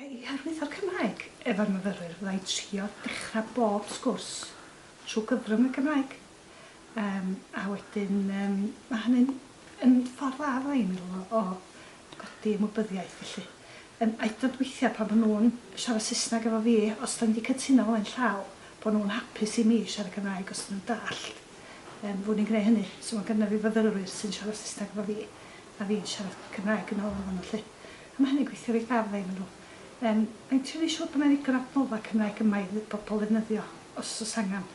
i arwyddo'r Cymraeg efo'r myfyrwyr fyddai'n trio dechra bob sgwrs trwy gyfrwng y Gymraeg. Yym a wedyn yym ma' hynny'n yn ffordd dda ddo' i mi o o godi ymwybyddiaeth felly. Yym a 'yd yn o'd weithia' pan ma' nw'n siarad Saesneg efo fi os 'dan ni 'di cytuno flaen llaw bo' nw'n hapus i mi siarad Cymraeg os 'dyn nw'n dallt yym bo' ni'n gneu' hynny so ma' gynna fi fyfyrwyr sy'n siarad Saesneg efo fi a fi'n siarad Cymraeg yn ôl efo nw 'lly. A ma' hynny'n gweithio reit dda fydda' i meddwl. Yym a fi'n trio neu' siŵr bo' 'na ddigon o adnodda' Cymraeg yma i dd- bobol ddefnyddio os o's angan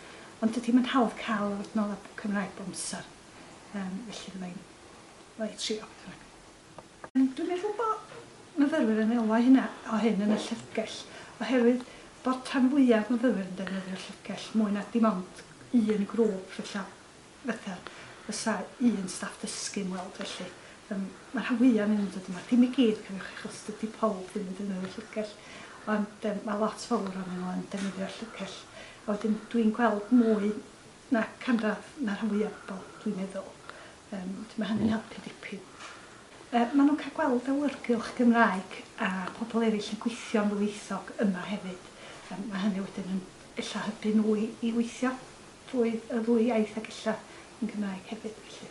Ond dydy hi'm yn hawdd cael yr adnoddau Cymraeg bob amser, yym, felly fydda i'n fydda i trio beth bynnag. Dwi'n meddwl bo' myfyrwyr yn elwa hynna o hyn yn y llyfrgell, oherwydd bod rhan fwyaf myfyrwyr yn defnyddio'r llyfrgell mwy na dim ond un grŵp fella, fetha fysa un staff dysgu yn weld felly. Yym, ma' rhan fwyaf o'nyn nhw'n dod yma, ddim i gyd cofiwch achos dydy powb ddim yn defnyddio'r llyfrgell, ond yym ma' lot fowr o'nyn nhw yn defnyddio'r llyfrgell. A wedyn dwi'n gweld mwy na canradd na rhan fwya bobl dwi'n meddwl, yym wedyn ma' hynny'n helpu dipyn. Yy ma' nhw'n cael gweld awyrgylch Gymraeg a pobl eraill yn gweithio'n ddwyieithog yma hefyd, yym ma' hynny wedyn yn ella hybu nhw i i weithio drwy y ddwy iaith ac ella yn Gymraeg hefyd felly.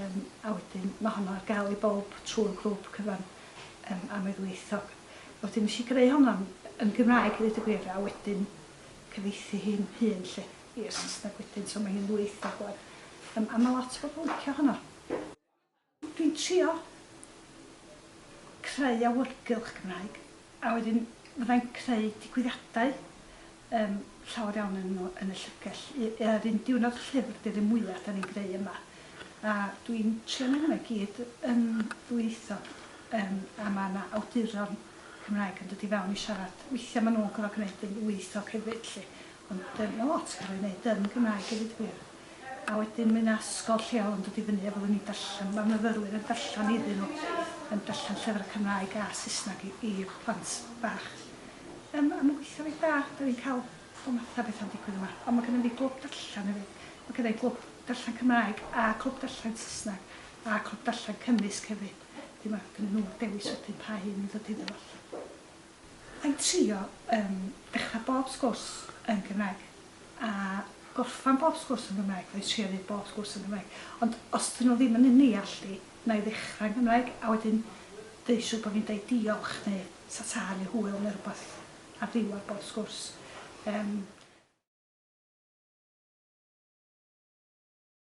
Yym, a wedyn ma' honno ar gael i bawb trwy'r grŵp cyfan yym am ddwyieithog. Wedyn nesh i greu honno yn yn Gymraeg i ddeud y gwir a wedyn cyfieithu hi'n hun 'lly i'r Saesneg wedyn so ma' hi'n ddwyieithog ŵan. Yym a ma' lot o bobl yn licio honno. Dwi'n trio creu awyrgylch Gymraeg a wedyn fyddai'n creu digwyddiadau Yym, llawer iawn ohonyn nhw yn y llyfrgell. Y- yr un diwrnod llyfr di'r un mwya 'dan ni'n greu yma. A dwi'n trio neu' hwnna i gyd yn ddwyieithog. Yym, a ma' 'na awduron Cymraeg yn dod i fewn i siarad. Weithia' ma' nhw'n gor'o' gneud yn ddwyieithog hefyd 'lly. Ond yym ma' lot yn ca'l ei neud yn Gymraeg i ddeud y gwir. A wedyn mae 'na ysgol lleol yn dod i fyny efo ni'n darllen, ma' myfyrwyr yn darllen iddyn nhw, yn darllen llyfrau Cymraeg a Saesneg i i plant bach. Yym a ma'n gweithio reit dda, 'dan ni'n cael pob math o betha'n digwydd yma. Ond ma' gynnon ni glwb darllen hefyd, ma' gynna i glwb darllen Cymraeg a clwb darllen Saesneg a clwb darllen cymysg hefyd. Wedyn ma' gynnyn nhw'r dewis wedyn pa un i ddod iddo fo 'lly. A i trio yym dechrau bob sgwrs yn Gymraeg a gorffan bob sgwrs yn Gymraeg, neu trio neud bob sgwrs yn Gymraeg. Ond os 'dyn nhw ddim yn yn neallu, wna i ddechrau yn Gymraeg a wedyn deud siŵr bod fi'n deud diolch neu ta ta neu hwyl neu rywbeth ar ddiwedd bob sgwrs. Yym.